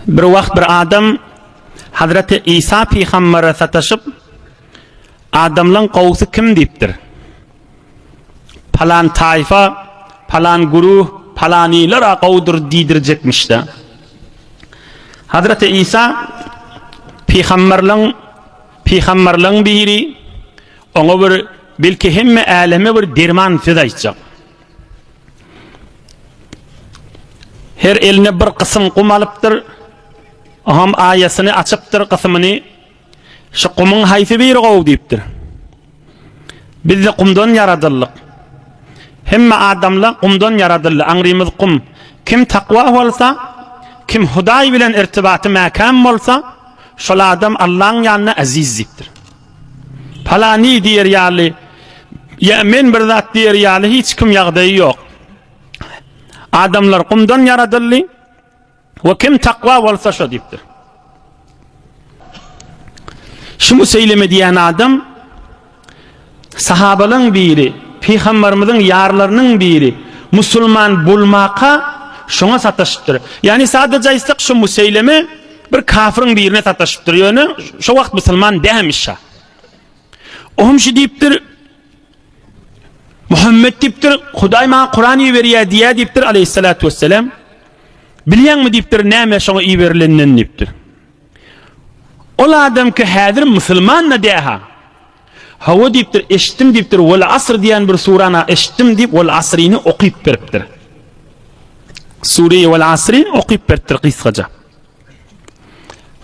Bir wagt bir adam Hazreti Isa pygambere sataşyp, Adamlaň gowusy kim diýipdir. Palan taýfa, palan guruh, palanylar-a gowudyr diýdirjekmiş-de. Hazreti Isa pygamberligiň pygamberligiň biri oňa bir belki hemme äleme bir derman söz aýtjak. Her eline bir gysym gum alypdyr. Oňam aýasyny açypdyr gysymyny. Şu gumyň haýsy biri gowy diýipdir. Biz-de gumdan ýaradyldyk. Hemme adamlar gumdan ýaradyldy. Aňrymyz gum. Kim takwa bolsa, kim Hudaý bilen irtibaty mäkäm bolsa, şol adam Allaň ýanynda eziz diýipdir. Palany diýer ýaly, ýa men bir zat diýer ýaly hiç kim ýagdaýy ýok. Adamlar gumdan ýaradyldy we kim takwa bolsa şo diýipdir. Şu müseýleme diýen adam sahabalaryň biri, pygambarymyzyň ýarlarynyň biri musulman bolmaka şoňa sataşypdyr. Ýani sadaja aýtsak şu müseýleme Bir kafirin birine sataşypdyr ýöne şo wagt musulman dämiş şa. O hem şu diýipdir. Muhammed diýipdir, Hudaý maňa Kuran iberýär diýýär diýipdir aleyhissalatu vesselam. Bilýäňmi diýipdir, näme şoňa iberilenden diýipdir. Ol adam ki häzir musulman da däha. Hawa diýipdir, eşitdim diýipdir, Wal asr diýen bir surana eşitdim diýip Wal asryny okyp beripdir. Sureýi Wal asri okyp beripdir gysgaja.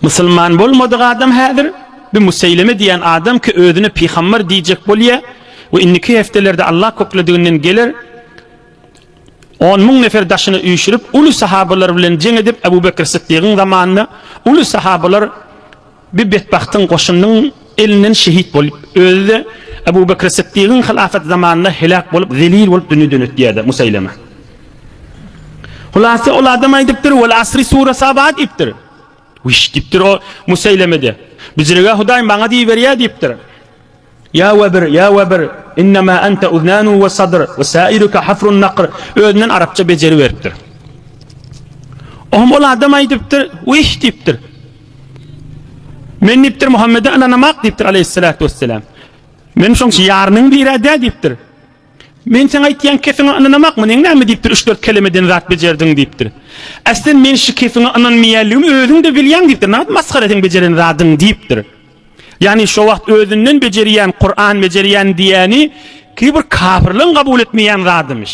Musulman bolmadyk adam häzir bir Museýleme diýen adam ki özüne pygambar diýjek bolýa we indiki heftelerde Allah köklediginden geler 10 müň nefer daşyny üýşürip uly sahabalar bilen jeň edip Ebu Bekr Siddigiň zamanynda uly sahabalar Bir betbagtyň goşunynyň elinden şehit bolup, özi-de Abu Bekr Siddigiň hylafaty zamanynda heläk bolup, zelil bolup dünýeden ötýär-de, Musaýlama. Hulasa, ol adam aýdypdyr, Wal asri surasy abat diýipdir. Wiş! diýipdir o Musaýlama-de. Büjürege Hudaý maňa diýiberýär diýipdir. Ýa webr, ýa webr, innema ente uznanu we sadr, we sairuke hafrun nakr, özünden arapça bejeri beripdir. Ohm ol adam aýdypdyr, Wih! diýipdir. Men diýipdir, Muhammede ynanamak diýipdir aleýhissalatu wesselam. Men şoň üçin ýarynyň biri-dä diýipdir. Men sen aýtýan kefiňe ynanamak meniň näme diýipdir, üç-dört kelemeden zat bejerdiň diýipdir. Äsli men şu kefiňe ynanmaýanlygym özüň-de bilýäň diýipdir. Nagt masgara seň bejeren zadyň diýipdir. Ýagny şo wagt özünden bejerýän, Kuran bejerýän diýýäni ki bir kafirligiň kabul etmeýän zadymyş.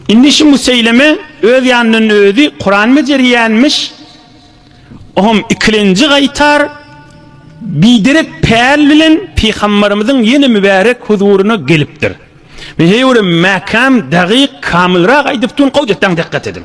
Indi şu Museýleme öz ýanyndan özi Kuran bejerýänmiş. Ohm ikilenji gaýtar biderek päl bilen pygambarymyzyň ýene mübärek huzuryna gelipdir. Men heýwere mäkäm, dagyk, kamylrak aýdyp durun, gowy diýip, daň dikkat ediň.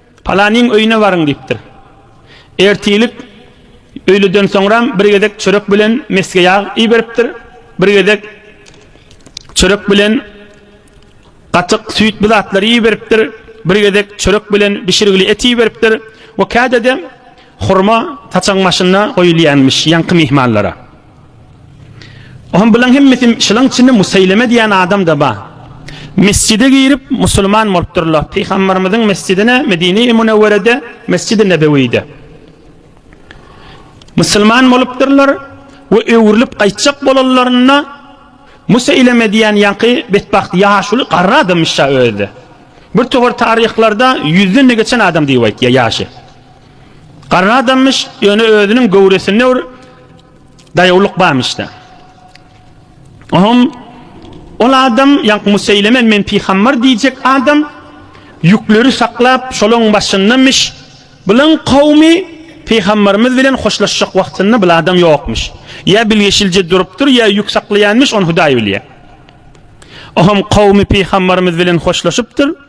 Palanyň öýüne baryň diýipdir. Ertirlik öýleden soňram bir gezek çörek bilen mesge ýag iberipdir, bir gezek çörek bilen gatyk, süýt bu zatlary iberipdir, bir gezek çörek bilen bişirgili et iberipdir we kädede hurma saçagyň başynda goýulýanmyş ýaňky myhmanlara. Oňa bulaň hemmesi şulaň içinde Musaýleme diýen adam-da bar. Mesjide girip musulman bolupdyrlar. Pygamberimiziň mesjidine Medine-i Munewwerede, Mesjid-i Nebewide. Musulman bolupdyrlar we öwrülip gaýtjak bolanlarynda Musaýleme diýen ýaňky betbagt ýaşuly garry adamyş-da özi. Bir towar taryhlarda ýüzden-de geçen adam diýip aýtýar ýaşy. Garry adammyş, ýöne özüniň göwresinde bir daýawlyk barmyş-da. Oňam ol adam, ýaňky Museýleme men pygambar diýjek adam, ýükleri saklap, şolaryň başyndamyş. Bularyň kowumy pygambarymyz bilen hoşlaşjak wagtynda bul adam ýokmyş. Ýa bilgeşilje durupdyr, ýa ýük saklaýanmyş, ony Hudaý bilýär. Oňam kowumy pygambarymyz bilen hoşlaşypdyr.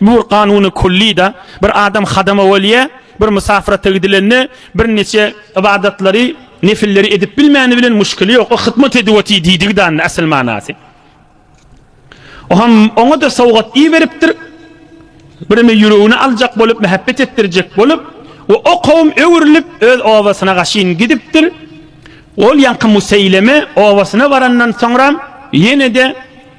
Nur Kanuny Kullyda bir adam hadama bolýa, bir mysafyrata gidilende bir neçe ybadatlary, nefilleri edip bilmäni bilen muşkili ýok, o hytmat edip otyr diýdigi danda asyl manasy. Oham oňa-da sowgat iberipdir, birimi ýüregini aljak bolup, mähebbet etdirjek bolup we o kowum öwrülip öz obasyna gaşyn gidipdir. Ol ýaňky Museýleme obasyna barandan soňram ýene-de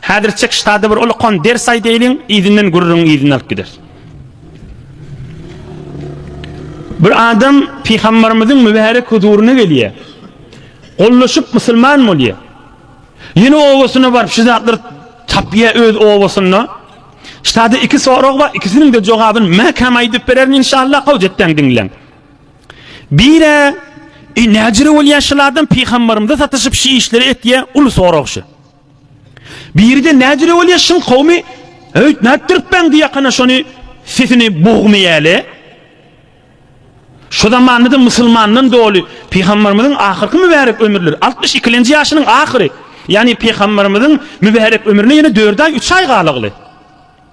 Häzir çek ştada bir ulakan ders aýdaýlyň, yzyndan gürrüňi yzyna alyp gideris. Bir adam pygamberimiziň mübärek huzuryna gelýär. Gollaşyp musulman bolýar. Ýene owasyna baryp şu zatlar tapýar öz owasynda. Ştada iki sorag bar, ikisiniň de jogabyny mäkäm aýdyp bererin inşallah, howc etden diňläň. Bire, e, näjere bolýar şulardan pygamberimize satyşyp şu işleri etýär, uly sorag şu. Biride nädire bolýa şyň kowmy öýt nätdirip beňdi ýakana şony sesini bogmy ýäli. Şu zamandada musulmandan doly pygambarymyzyň ahyrky mübärek ömürleri altmyş ikilenji ýaşynyň ahyry ýagny pygambarymyzyň mübärek ömrüne ýene dört aý üç aý galagly.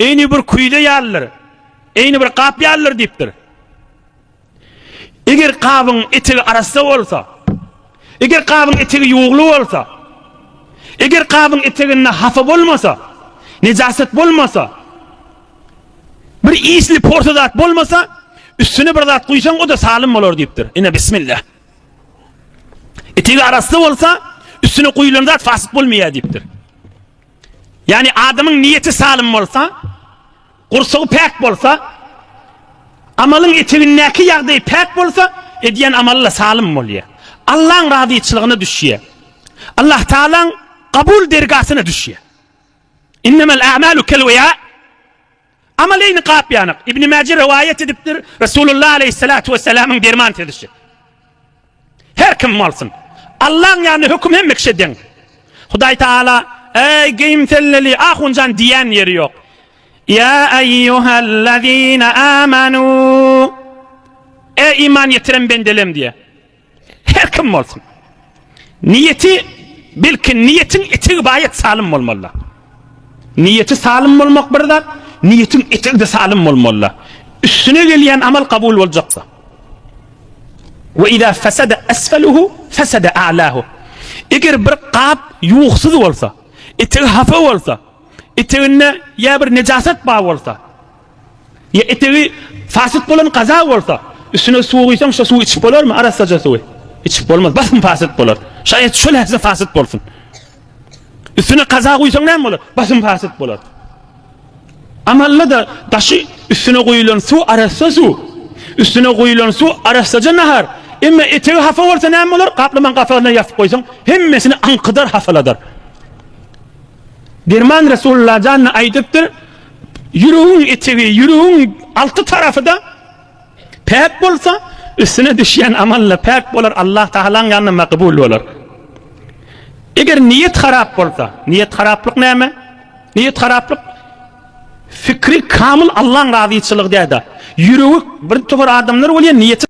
Eýni bir küýze ýalydyr, eýni bir gap ýalydyr diýipdir. Eger gabyň etegi arassa bolsa, eger gabyň etegi ýuwugly bolsa, eger gabyň eteginde hapa bolmasa, nejaset bolmasa, bir isli porsa zat bolmasa, üstüne bir zat guýsaň, o-da salym bolar diýipdir. Ine, bismillah. Etegi arassa bolsa, üstüne guýlan zat fasyk bolmaýar diýipdir. Ýagny adamyň niýeti salym bolsa, gursagy päk bolsa, amalyň etegindäki ýagdaýy päk bolsa, edýän amaly-da salym bolýar. Allaň razyçylygyna düşýär. Allah Tagalaň kabul dergasyna düşýär. Innemel a'malu kelweýa. Amaleýni gapýanak. Ibni Mäje rowaýat edipdir, Resulullah aleýhissalatu wessalamyň derman sözüşi. Her kim bolsun. Allaň ýanynda höküm hemme kişä deň. Hudaý Taala, Eý, geýimselleli ahunjan diýen ýeri ýok. Ýa eýýuhellezine amanu. Eý, iman ýetiren bendelem diýýär. Her kim bolsun. Niyeti belki niyetin etegi bayat salym bolmalı. Niyeti salym bolmak bir zat, niyetin etegi de salym bolmalı. Üstüne gelen amal kabul bolacaksa. Ve izâ fesede esfeluhu fesede a'lahu. Eger bir kap yuhsuz bolsa, etegi hafa bolsa, eteginde ya bir necasat bağ bolsa, Ýa etegi fasyt bolan gaza bolsa, üstüne suw guýsaň, şo suwy içip bolarmy, arassaja suwy? Içip bolmaz, basym fasyt bolar. Şaýat şol ähli fasyt bolsun. Üstüne gaza guýsaň näme bolar? Basym fasyt bolar. Amalla-da daşy üstüne guýulan suw arassa suw. Üstüne guýulan suw arassaja nahar. Emma etegi hafa bolsa näme bolar? Gaplaman gapagyna ýapyp goýsaň, hemmesini aňkydar, hafaladar. Derman Resulullah janyna aýdypdyr, Ýüregiň etegi, ýüregiň alty tarapy-da päk bolsa, üstüne düşýän amal-da päk bolar, Allah Tagalaň ýanynda makbul bolar. Eger niýet harap bolsa, niýet haraplyk näme? Niýet haraplyk, fikri kamyl Allaň razyçylygy däl-de, ýüregi, birtopar adamlar bolýar, niýeti.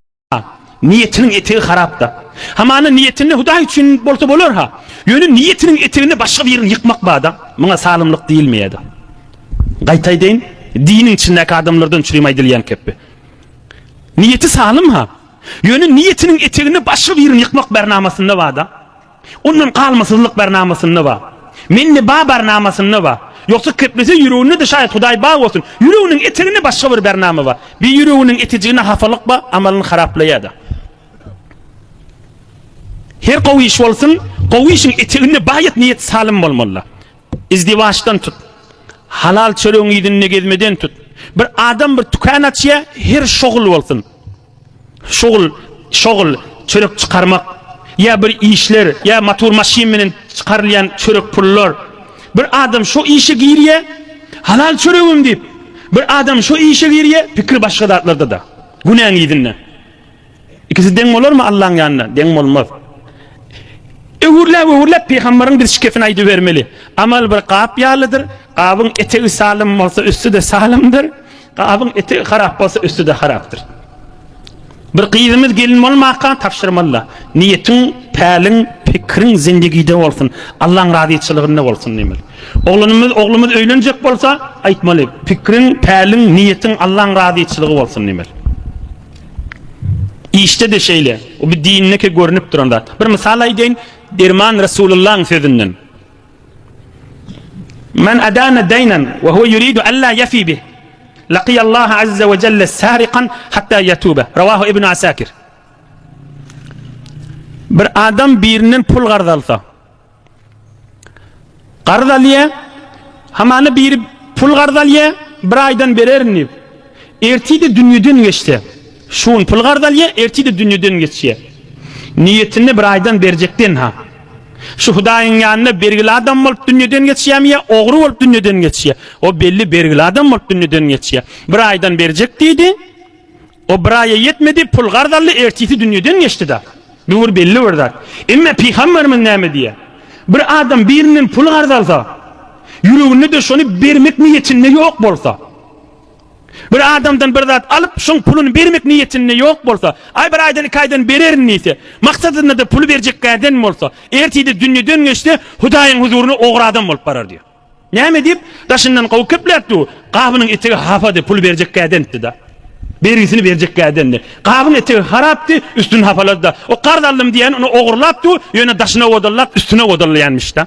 Niýetiniň etegi harapdyr. Hamana niýetinde Hudaý üçin bolsa bolar-ha. Ýöne niýetiniň eteginde başga birini ýykmak bar-da, muňa salymlyk diýilmeýär-de. Gaýta aýdaýyn, diniň içindäki adamlardan çürim aýdylýan kepbi. Niýeti salym-ha. Ýöne niýetiniň eteginde başga birini ýykmak bar namasynda bar-da. Ondan galmasyzlyk barnamasynda bar. Mende bar barnamasynda bar. Ýogsa keplese ýüreginde-de şaýat Hudaý bar bolsun, ýüreginiň eteginde başga bir barnama bar. Bir ýüreginiň etejiginde hapalyk bar, amalyny haraplaýar-da. Her gowy iş bolsun, gowy işiň eteginde baýat niýet salym bolmaly-da. Izdiwaçdan tut. Halal çöregiň yzynda gezmeden tut. Bir adam bir tükän açýar, her şoguly bolsun. Şugl, şogl, çörek çykarmak, ýa bir işler, ýa motor maşyn menen çykarylýan çörek pullar. Bir adam şo işe girýä, halal çöregim diýip, bir adam şo işe girýä, pikir başga zatlarda-da. Günäň yzynda. Ikisi deň bolarmy Allaň ýanynda? Deň bolmaz. Öwürläp-öwürläp pygamberiň biz şikesini aýdybermeli. Amal bir gap ýalydyr, gabyň etegi salym bolsa üsti-de salymdyr. Gabyň eti harap bolsa üsti-de harapdyr. Bir gyzymyz gelin bolmaka tabşyrmalyda, Niýetiň, päliň, pikiriň zindigide bolsun, Allaň razyçylygynda bolsun diýmeli. Oglanymyz, oglumyz öýlenjek bolsa, aýtmaly, Pikiriň, päliň, niýetiň Allaň razyçylygy bolsun diýmeli. Işde-de şeýle. Bu dindäki görnüp duran zat. Bir mysal aýdaýyn, Derman Resulullahyň sözünden. Men adana daynan ve huve yuridu alla yafi bih. Laqiyallaha azza ve celle sariqan hatta yatuba. Ravahu ibn Asakir. Bir adam birinden pul garz alsa. Garz alýa. Hamany biri pul garz alýa. Bir aydan bererin diýip. Ertide dünýeden geçse. Şu gün pul garz alýa, ertir-de dünýeden geçýä. Niýetinde bir aýdan berjekden-ha. Şu Hudaýyň ýanynda bergili adam bolup dünýeden geçýämi ýa ogry bolup dünýeden geçýä? O belli bergili adam bolup dünýeden geçýä. Bir aýdan berjek diýdi. O bir aýa ýetmedi, pul garz aldy, ertisi dünýeden geçdi-da. Bu bir belli bir zat. Emma pygamberimiz näme diýýä? Bir adam birinden pul garz alsa, ýüreginde-de şony bermek niýetinde ýok bolsa. Bir adamdan bir zat alyp, şoň puluny bermek niýetinde ýok bolsa, aý bir aýdan iki aýdan bererin diýse, maksadynda-da puly berjekgäden bolsa, ertide dünýeden geçse, Hudaýyň huzuryna ogry adam bolup barar diýýär. Näme diýip, daşyndan gowy kepläpdi bu, gabynyň etegi hapady, puly berjekgädenitdi-da. Bergisini berjekgädendi. Gabyň etegi harapdy, üstüni hapalady-da. O karz aldym diýýän, ony ogurlapdy, ýöne daşyna wodallap, üstüne wodallaýanmyş-da.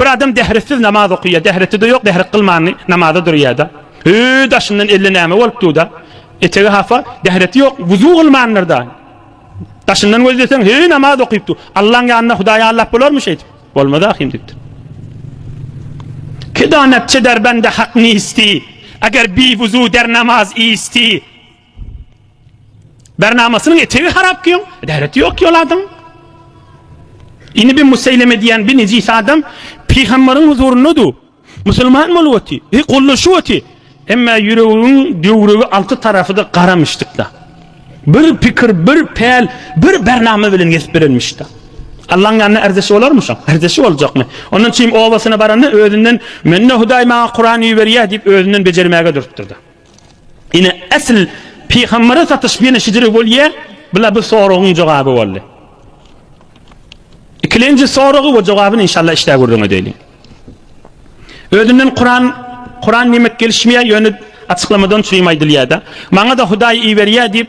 Bir adam dähretsiz namaz okyýar, dähreti-de ýok, dährek gylmanly namaza durýar-da. Öý daşyndan elle näme bolup dur-da. Etegi hapa, dähreti ýok, wuzu gylmandyr-da. Daşyndan gözleseň, heý, namaz okyp dur. Allaň ýanynda Hudaý ýallap bolarmy şeýdip? Bolmaz ahyryn diýipdir. Ki donatçy derbende hak nisti, eger bi wuzu der namaz isti. Bernamasynyň etegi harap ki ýoň, gäreti ýok ýol adam. Ini bir museyleme diýen bir nejis adam pygamberiň huzurynda du. Musulman bolup oty, e gollaşyp oty. Emme ýüregiň döwrügi alty tarafy da gara myşdykda. Bir pikir, bir päl, bir bernama bilen gezip berenmişda. Allaň ýanyna erdesi bolarmy şoň? Erdesi boljakmy? Ondan çim obasyna baranda özünden mende Hudaý maňa Kuran iberýä diýip özünden bejermäge durupdyrda. Ine, esl pygambere satyş ýene şidiri bolýa, bula bu soragyň jogaby boldy. Ikilenji soragy we jogabyny inşallah işdä gürrüň edeyli. Özünden Kur'an, Kur'an demek gelişmeýä, ýöne açyklamadan çürim aýdylýada. Maňa da Hudaý iberýä diýip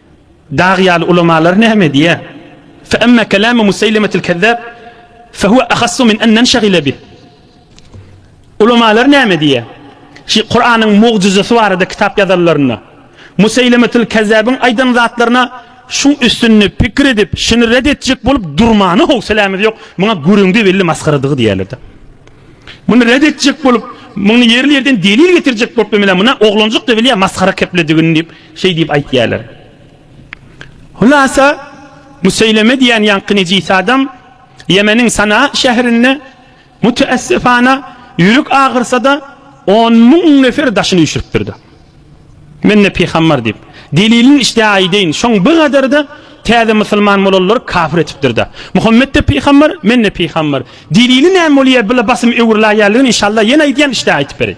Dag ýaly ulamalar näme diýýär? Fe emme kelamu Museylemetil kezzab fe huve ahassu min en nenşagile bih. Ulamalar näme diýýär? Şi Kuranyň mugjyzasy barada kitap ýazanlarynda Museylemetil kezzabyň aýdan zatlaryna şu üstünde pikir edip, şini red etjek bolup durmana howselämiz ýok. Muňa gürüňdi belli masgaradygy diýerlerde. Muny red etjek bolup, muny ýerli ýerden delil getirjek bolup bilmele, muna oglanjyk da bilýär masgara kepledigini diýip. Şeý diýip aýtýarlar. Hulasa, Müseýleme diýen ýaňky nejis adam Ýemeniň Sanaa şäherinde, müteessifana, ýürek agyrsa-da, on müň nefer daşyny üýşüripdir-de. Men-de pygambar diýip, delilini işdä aýdaýyn, şoň bir gadar-da täze musulman bolanlary kafir etipdir-de. Muhammet-de pygambar, men-de pygambar. Delili näme bolýar, bile basym öwrüläýerligini, inşallah, ýene aýdýan, işdä aýtyp bereýin.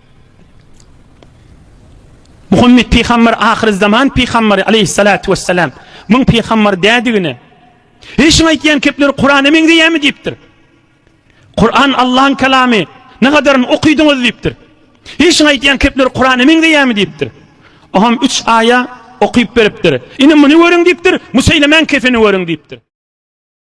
Muhammet pygamber ahyry zaman pygamberi aleyhissalatu vesselam. Muň pygamber dädigine. Eý şuň aýtýan kepleri Kur'ana meňzeýämi diýipdir. Kur'an Allah'yň kelamy. Ne gadaryny okydyňyz diýipdir. Eý şuň aýtýan kepleri Kur'ana meňzeýämi diýipdir. Oham 3 aýa okyp beripdir. Ine muny görüň diýipdir. Museýlemäň kefini görüň diýipdir.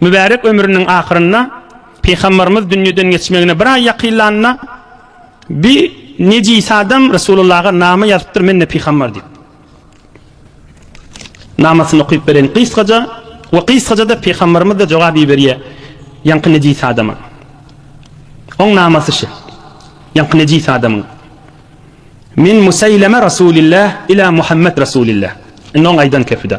Mübärek ömrüniň ahyrynda Pygambarymyz dünýeden geçmegine bir aý ýakynlanda bi nejis adam Resulullaha nama ýazypdyr men-de pygambar diýip. Namasyny okyp beren gysgaja we gysgaja-da Pygambarymyz da jogap iberýär ýaňky nejis adama. Oň namasy şu. Ýaňky nejis adamyň. Min Musaýleme Rasulillah ila Muhammed Rasulillah. Indi oň aýdan kepide.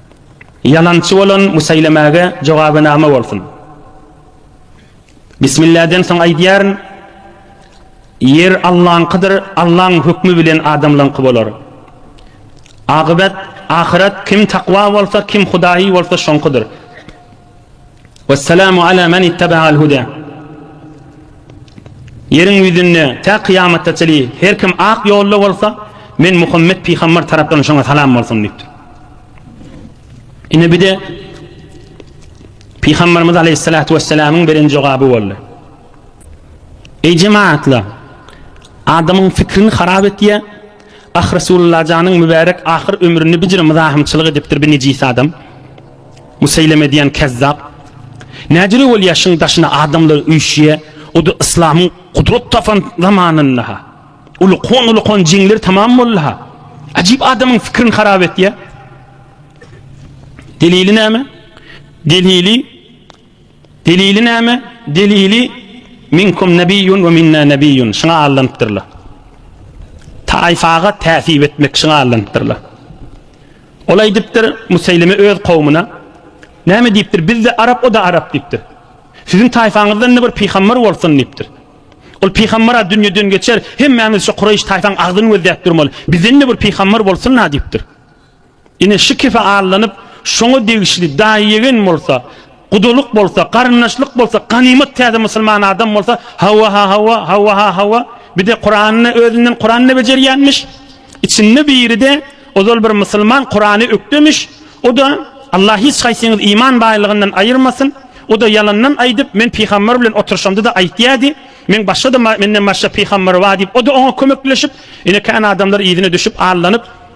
Ýalançy bolan bu şeýlemäge jogabynama bolsun. Bismilladen soň aýdýaryn, Ýer Allaňkydyr, Allaň hökmi bilen adamlaňky bolar. Agybat, ahyret, kim takwa bolsa, kim Hudaýy bolsa şoňkydyr. Wesselamu ala men ittaba'al huda. Ýeriň ýüzünde tä kyýamatda çeli her kim ak ýolda bolsa, men Muhammet pygamber tarapdan şoňa salam bolsun diýipdir. Ine bir-de Pygamberimiz aleyhissalatu vesselamyň beren jogaby boldy. Eý jemaatlar, adamyň fikrini harap etýär, Ah Resulullajanyň mübärek ahyr ömrüni bijir myzahymçylyk edipdir bi nejis adam. Museýleme diýen kezzap. Näjüre bolýa şyň daşyna adamlar üýşýä, o-da yslamyň gudrat tapan zamanynda-ha. Ulukan ulukan jeňler tamam boldy-ha. Ajyp adamyň fikirini harap etýä. Delili näme? Delili Delili näme? Delili Minkum nebiýun we minna nebiýun şuňa allanypdyrlar. Taýfaga täsip etmek şuňa allanypdyrlar. Ol aýdypdyr Museýleme öz kowmuna näme diýipdir? Bizde arap o da arap diýipdir. Siziň taýfaňyzdan-da bir pygamber bolsun diýipdir. Ol pygamber-a dünýeden geçer, hemmämiz şu Kureýş taýfaň agzyny gözläp durmaly. Bizden-de bir pygamber bolsun-a diýipdir. Ine, şu kefe aldanyp, şoňa degişli daýy-ýegen bolsa, gudalyk bolsa, garyndaşlyk bolsa, ganymat täze musulman adam bolsa, hawa-ha-hawa, hawa-ha-hawa, bir-de Kurany özünden Kuranda bejerýänmiş. Içinde biri-de ozal bir musulman Kurany ökdemiş, o-da, Allah hiç haýsyňyzy iman baýlygyndan aýyrmasyn, o-da ýalandan aýdyp, men pygamber bilen oturyşamda-da aýtýardy, meň başga-da, menden başga pygamber bar diýip, o-da oňa kömekleşip, ine, kän adamlar yzyna düşüp, aldanyp,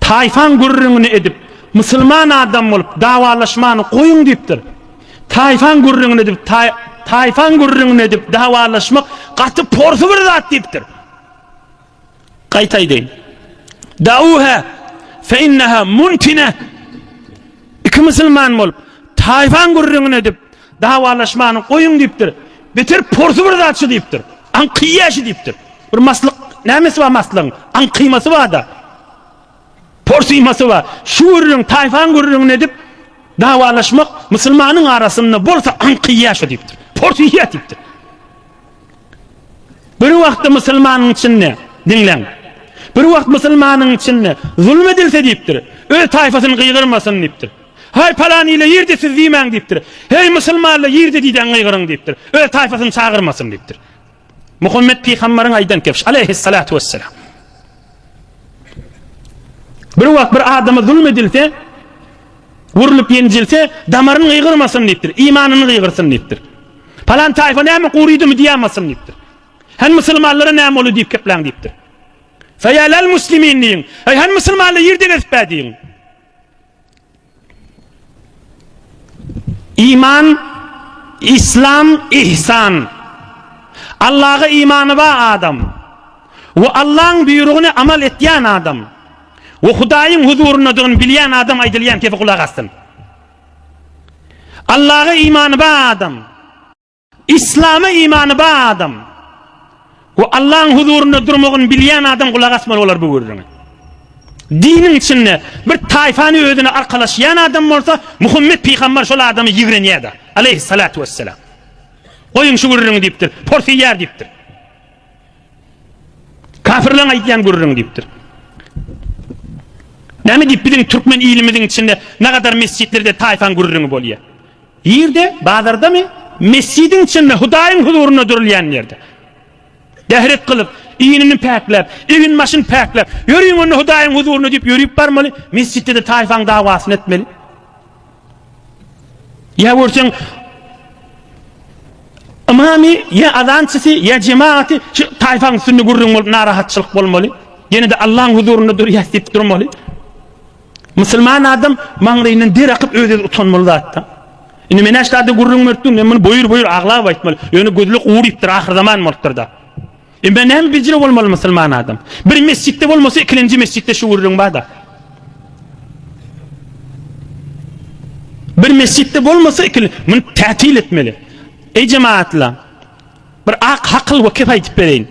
Taýfaň gürrüňini edip, musulman adam bolup dawalaşmany goýuň diýipdir. Taýfaň gürrüňini edip, taýfaň gürrüňini edip dawalaşmak gaty porsy bir zat diýipdir. Gaýta aýdaýyn. Dauha fe innaha muntine. Iki musulman bolup, taýfaň gürrüňini edip, Dawalaşmany goýuň diýipdir. Beter porsy bir zatçy diýipdir. Aňkyýaşy diýipdir. Bir maslyk nämesi bar maslygyň? Aňkymasy bar-da. Porsymasy bar. Şu gürrüň, taýfaň gürrüňini edip, dawalaşmak musulmanyň arasynda bolsa aňkyýaşy diýipdir. Porsyýaş diýipdir. Bir wagtda musulmanyň içinde, diňläň. Bir wagt musulmanyň içinde zulum edilse diýipdir. Öz taýfasyny gygyrmasyn diýipdir. Haý, palan ile ýerde siz diýmäň diýipdir. Heý, musulmanlar, ýerde diýdäň gygyryň diýipdir. Öz taýpasyny çagyrmasyn diýipdir. Muhammet pygambaryň aýdan kebş, aleýhyssalatu wessalam. Bir wagt bir adama zulm edilse, urlup ýenjilse, damaryny gygyrmasyn diýipdir, imanyny gygyrsyn diýipdir. Palan taýfa näme gurydymy diýämasyn diýipdir. Hän musulmanlara näme boldy diýip gepläň diýipdir. Feýälel muslimin diýiň. Ey hän musulmanlar ýerde gezip bä diýiň. Iman, Islam, Ihsan. Allaha imany ba adam we Allaň buýrugyny amal etýän adam we Hudaýyň huzuryndadygyny bilýän adam aýdylýan kepi gulak assyn. Allaha imany ba adam. Islama imany ba adam we Allahyň huzurynda durmagyny bilýän adam gulak asmaly bolar bu gürrüňe. Diniň içinde bir taýfany özüne arkalaşýan adam bolsa, Muhammet pygamber şol adamy ýigrenýär-de. Aleýhissalatu wesselam. Goýuň şu gürrüňi diýipdir. Porsyýar diýipdir. Kafirleň aýdýan gürrüňi diýipdir. Näme diýip biziň türkmen ilimiziň içinde nagadar mesjitlerde taýfaň gürrüňi bolýar. Ýerde, bazardamy? Mesjidiň içinde Hudaýyň huzurynda durulýan ýerde. Dehret kylyp, iýnini päkläp, egin başyny päkläp, ýörüň onda Hudaýyň huzurynda diýip ýörüp barmaly. Mesjitde-de taýfaň dawasyny etmeli. Ýa görseň Ymamy ýa azançysy ýa jematy şu taýfaň üstünde gürrüň bolup narahatçylyk bolmaly. Ýene-de Allahyň huzurynda durýas diýip durmaly. Musulman adam maňlaýyndan der akyp öz-öz utanmaly zatda. Indi men aşlarda gürrüň beripdim, men muny boýur-boýur aglap aýtmaly. Ýöne gözlük ugur diýipdir, ahyr zaman bolupdyr-da. Emma näme bizre bolmaly musulman adam? Bir mesjitde bolmasa ikilenji mesjitde şu gürrüň barda. Bir mesjitde bolmasa ikili mun tätil etmeli. Ey jemaatla bir ak hakyl we kep aýdyp bereýin.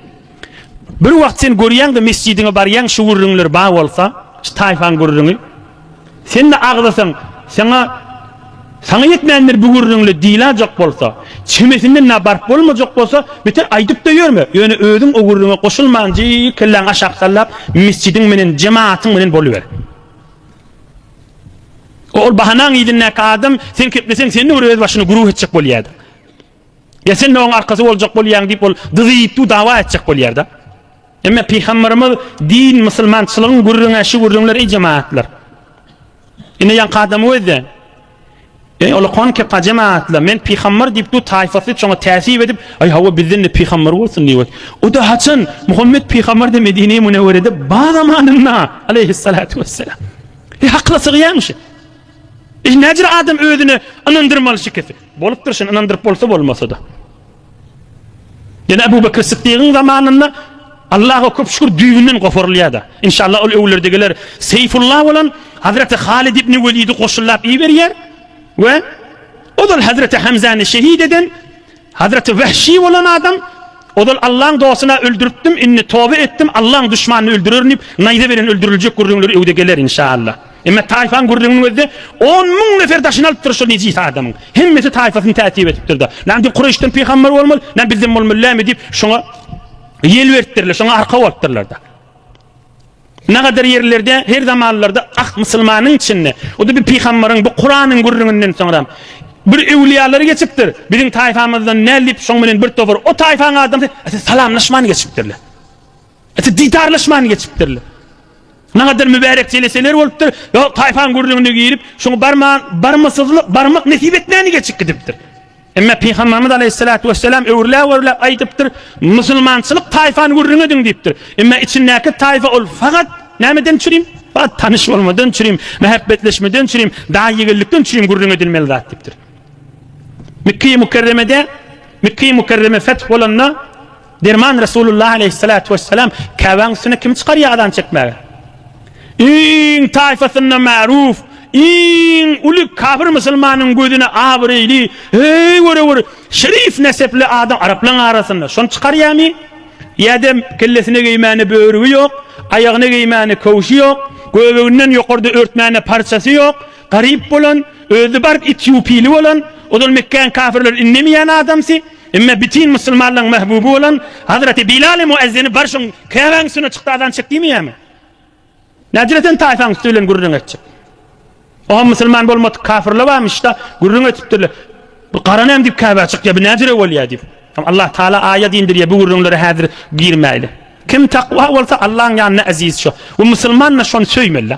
Bir wagt sen görýäňde mesjidiňe barýaň şu gürrüňler ba bolsa, şu taýfaň gürrüňi. Sen-de agzasaň, saňa Saňa ýetmändir bu gürrüňle diýläjek bolsa, çemesinden na baryp bolmajak bolsa, beter aýdyp-da ýörme, ýöne özüň o gürrüňe goşulmanji kelläňi aşak sallap, mesjidiň menen, jematyň menen boluber. Ol bahanaň yzyndaky adam, sen kepleseň, sen-de bir öz başyny guruh etjek bolýardyň. Ýa sen-de onuň arkasy boljak bolýaň diýip, ol dyzy-ýitdi dawa etjek bolýar-da. Emma pygamberimiz din, musulmançylygyň gürrüňi şu gürrüňler eý jemaatlar. Ine ýaňky adamy gözle. Eý ola kon kepa jemaatlar, men pygamber diýip du taýfasy çoňa täsip edip, aý hawa bizden de pygamber bolsun diýip. O da haçan Muhammet pygamber de Medine-i Münewwerede ba zamanynda aleyhissalatu vesselam. E hakla sygýaň şu. Ine näcir adam özüne ynandyrmaly şikesi. Bolupdyr şony ynandyryp bolsa bolmasada. Ýene Abu Bakr Siddigiň zamanynda Allaha köp şükür düýbünden goparylýada. Inşallah ol öwürlerde geler. Seýfulla bolan Hazreti Halid ibn Welidi goşullap iberýär we ozal Hazreti Hamzany şehit eden Hazreti Wehşi bolan adam ozal Allaň dostuna öldüripdim indi toba etdim Allaň duşmanyny öldürerin diýip naýza beren öldüriljek gürrüňleri öwde geler inşaallah. Emma taýfaň gürrüňiniň özde on müň nefer daşyny alypdyr şol nejis adamyň. Hemmesi taýfasyny täsip etipdirda. Näme diýip Kureýşden pygamber bolmaz, näme bizden bolmaly näme diýip şoňa ýel beripdirler, şoňa arka bolupdyrlarda. Nagadar ýerlerde her zamanlarda ahd musulmanyň içinde, o-da bir pygambaryň, bu Kuranyň gürrüňinden soňra bir öwliýalary geçipdir. Biziň taýfamyzdan näl diýip şoň bilen bir topar o taýfaň adamsy ata salamlaşman geçipdirler. Ata didarlaşman geçipdirler. Nagadar mübärek jeleseler bolupdyr. Ýok, taýfaň gürrüňine girip, şoň barman, barmasyzlyk, barmak nesip etmäni geçip gidipdir. Emma Pygamberimiz Aleýhissalatu wesselam öwrüläp-öwrüläp aýdypdyr, Musulmançylyk taýfany gürrüň ediň diýipdir. Emma içindäki taýfa ol fagat nämeden çürim? Fagat tanyş bolmadan çürim, mähäbbetleşmeden çürim, daýy-ýegenlikden çürim gürrüň edilmeli zat diýipdir. Mekge-i Mükerremede, Mekge-i Mükerreme feth bolanda, Derman Resulullah aleýhissalatu wessalam Käbäň üstüne kim çykarýar azan çekmäge? Iň taýfasynda märuf, iň uly kafir musulmanyň gözüne abraýly, eý göre bir şerif nesepli adam araplaň arasynda şony çykarýamy? Ýa-da kellesine geýmäne börügi ýok, aýagyna geýmäne köwşi ýok, göbeginden ýokarda örtmäne parçasy ýok, garyp bolan, özi bark itýupili bolan, ozal Mekgäň kafirleri indemeýän adamsy, Emma bütin musulmanlaryň mahbuby bolan Hazreti Bilal-i Muezzini bar şoň Käbäň üstüne çykdy azan çek diýmeýärmi? Nädire sen taýfaň üsti bilen gürrüň etjek? Oňa musulman bolmadyk kafirler barmyş-da, gürrüň etipdirler. Bu gara näme diýip Käbä çykýar, bu nädire bolýar diýip. Hem Allah Taala aýat indirýär, bu gürrüňlere häzir girmäýli. Kim takwa bolsa Allahyň ýanynda eziz şo. Bu musulman-da şony söýmeli.